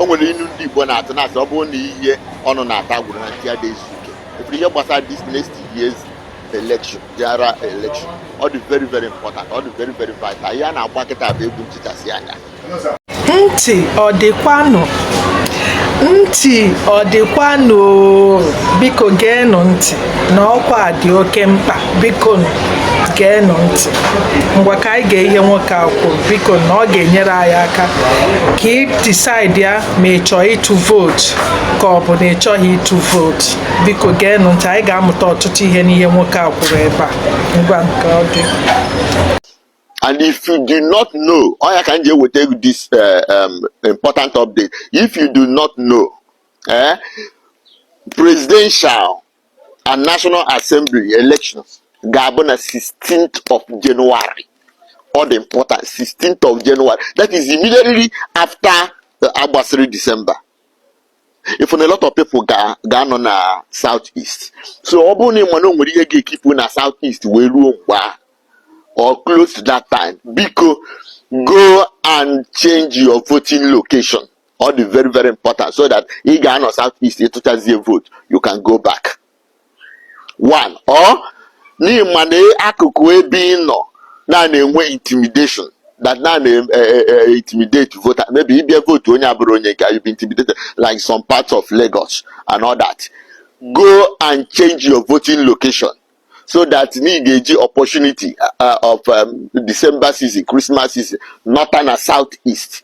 o nwere inu ndị Igbo na-atụ na-asị ọ bụrụ na ihe ọnụ na-ata agwụrọ na ntị adịghị ezu ike ọ bụrụ ihe gbasara this next year's election general election ọ dị very very important ọ dị very very vital ihe a na-agba kịta bụ egwu nchịchasị anya ntị ọ dịkwanụ ntị ọ dịkwanụ biko geenụ ntị na ọkwa dị oke mkpa biko geenụ ntị ngwa ka anyị gee ihe nwoke a kwuru biko na ọ ga-enyere anyị aka ka ị decide ya ma ị chọọ ịtụ vote ka ọ bụ na ị chọghị ịtụ vote biko geenụ ntị anyị ga-amụta ọtụtụ ihe n'ihe nwoke a kwuru ebe a ngwa nke ọ dị and if you do not know ọ ya ka m ji eweta this eh, um, important update if you do not know eh, presidential and National Assembly elections ga-abụ na 16th of January ọ dị important 16th of January that is immediately after uh, a gbasịrị December ị fụ na a lot of people ga-anọ na South East so ọ bụrụ na ị ma na o nwere ihe ga-ekipụ na South East wee ruo mgbe a or close to that time biko go and change your voting location ọ dị very very important so that ị ga-anọ south east ị tụchazie vote you can go back one or na ị ma na akụkụ ebe ị nọ na na-enwe intimidation that na na eh, eh, eh, intimidate voter maybe ị bịa vote onye abụrọ onye nke you be intimidated like some parts of Lagos and all that go and change your voting location so that na ị ga-eji opportunity uh, of um, December season Christmas season nọta na south east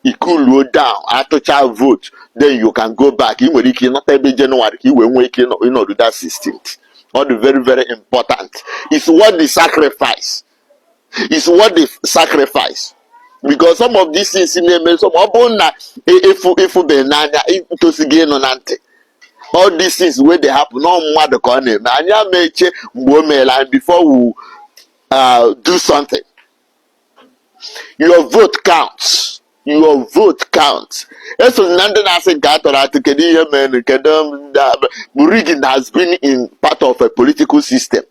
i cooluo down atụcha vote then you can go back ị nwere ike ịnọta ebe January ka ị wee nwee ike ịnọdụ that 16th ọ dị very very important it's worth the sacrifice it's worth the sacrifice because some of these things na-eme some ọ bụrụ na ị fụbeghị n'anya i tosiri ịnụ na ntị all these things wey dey happen ọ mmadụ ka ọ na-eme anyị ama eche mgbe o meela anyị before we uh, do something your vote counts your vote counts esona ndị na-asị nke a tụrụ atụ kedu ihe mere kedu ndị a- rigging has been in part of a political system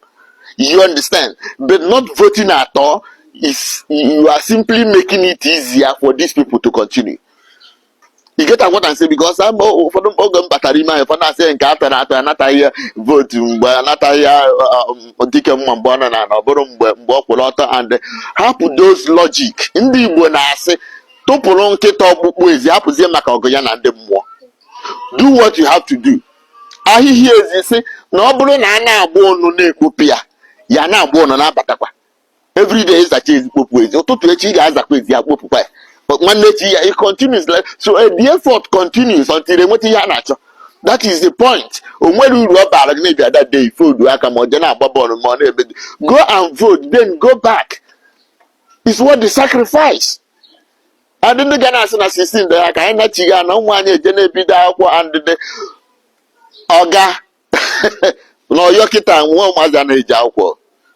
you understand but not voting at all is you are simply making it easier for these people to continue you get what I'm saying because um ụfọdụ oge m batara ime ahụ ụfọdụ asị nke a tụrụ atụ anataghị ya vote mgbe anataghị ya uh, um, dike mma mgbe ọ nọ n'ana ọ bụrụ mgbe mgbe ọ kwụrụ ọtọ and hapụ those logic ndị Igbo na-asị tụpụrụ nkịta ọkpụkpụ ezi hapụzie maka ọgụ ya na ndị mmụọ do what you have to do ahịhịa ezi sị na ọ bụrụ na a na-agba ụnụ na-ekpopụ ya ya ana-agba ụnụ na-abatakwa everyday ịzacha ezi kpopụ ezi ụtụtụ echi ị ga-azakwa ezi ya kpopụkwa ya But nwanne echi ya it continues like so eh, the effort continues until enweta ihe a na-achọ that is the point o nwere uru ọ baara gị na-abịa that day foldu aka ma ọ je na-agba bọọlụ ma ọ na-ebe dị. go and vote then go back is worth the sacrifice and ndị ga na-asị na 16 dị ha ka anyị nachighị ana ụmụ anyị eje na-ebido akwụkwọ and the ọga na Ọyọ kịta nwa ụmụazị anaghị eje akwụkwọ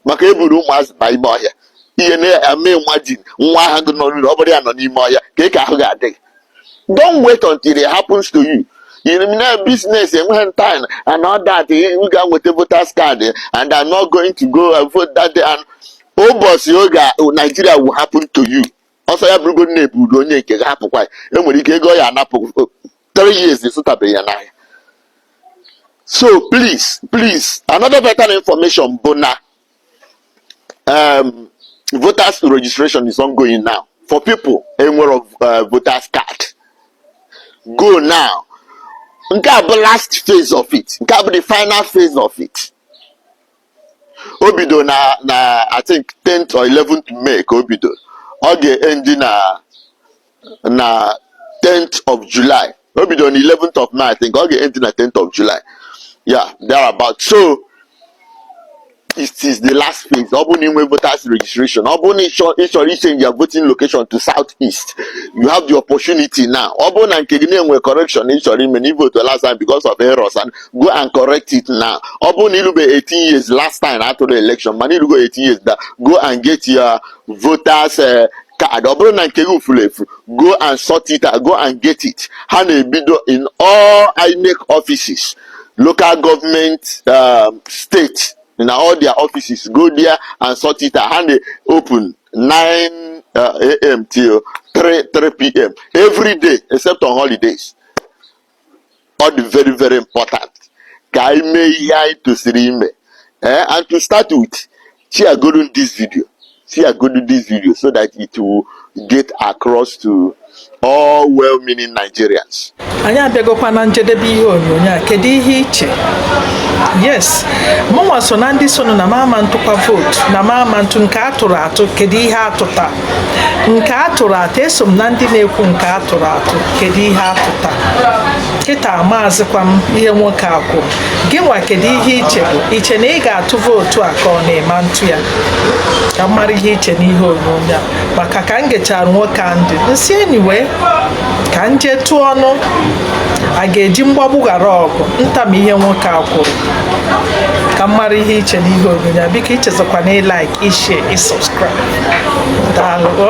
maka eburu ụmụazị baa ime ọhịa ihe na-eme nwa gị nwa ahụ gị nọ n'ụlọ ọ bụrụ ya nọ n'ime ọhịa kee ka ahụ ga-adị gị don't wait until it happens to you na business enweghị time and all that ị ga nweta voters card and I'm not going to go and vote that day and ụbọchị oge Nigeria will happen to you ọ sị ya bụrụgodu na eburu onye nke gị hapụkwa ya enwere ike ego a ga-anapụ three years ịzụtabeghị ya n'ahịa so please please another vital information bụ na um, voters registration is ongoing now for people enwerọ uh, voters card go now nke a bụ last phase of it nke a bụ the final phase of it o bido na na I think 10th or 11th May ka o bido ọ ga-endi na na 10th of July o bido na 11th of May I think ọ ga-endi na 10th of July or thereabout so it is the last phase ọ bụrụ na inwe voters registration ọ bụrụ na ịchọrọ ichenji your voting location to south east you have the opportunity now ọ bụrụ na nke gị na-enwe correction ịchọrọ ime na ivotu last time because of errors and go and correct it now ọ bụrụ na irube 18 years last time atụrụ election mana irugo 18 years kịta go and get your voters eh, card ọ bụrụ na nke gị furu efu go and sort it out go and get it ha na-ebido in all INEC offices local government um, state na all their offices go there and sort it out ha na-open 9 uh, a.m. till 3 3 p.m. every day except on holidays ọ dị very very important ka anyị mee ihe anyị tosiri ime eh, and to start with share godu this video share godu this video so that it will get across to all well-meaning Nigerians. anyị abịagokwa na njedebe ihe onyonyo a kedu ihe iche yes mụnwa so na ndị sịnụ na m ama atụkwa vootu na m ama atụ nke a tụrụ atụ kedu ihe a tụta nke a tụrụ atụ eso m na ndị na-ekwu nke a tụrụ atụ kedu ihe a tụta kịta maazịkwa m ihe nwoke a kwu gị nwa kedu ihe iche bụ iche na ị ga-atụ vootu a ka ọ na ị ma atụ ya ka m mara ihe iche n'ihe onyonyo a maka ka m gechara nwoke a ntị m sị anyway ka m jee tụọ ọ na a ga-eji mgbagbu ghara ọgụ nta m ihe nwoke a kwuru ka m mara ihe iche n'ihe onyonyo biko echezọkwana ịlaik i-share i-subscribe daalụ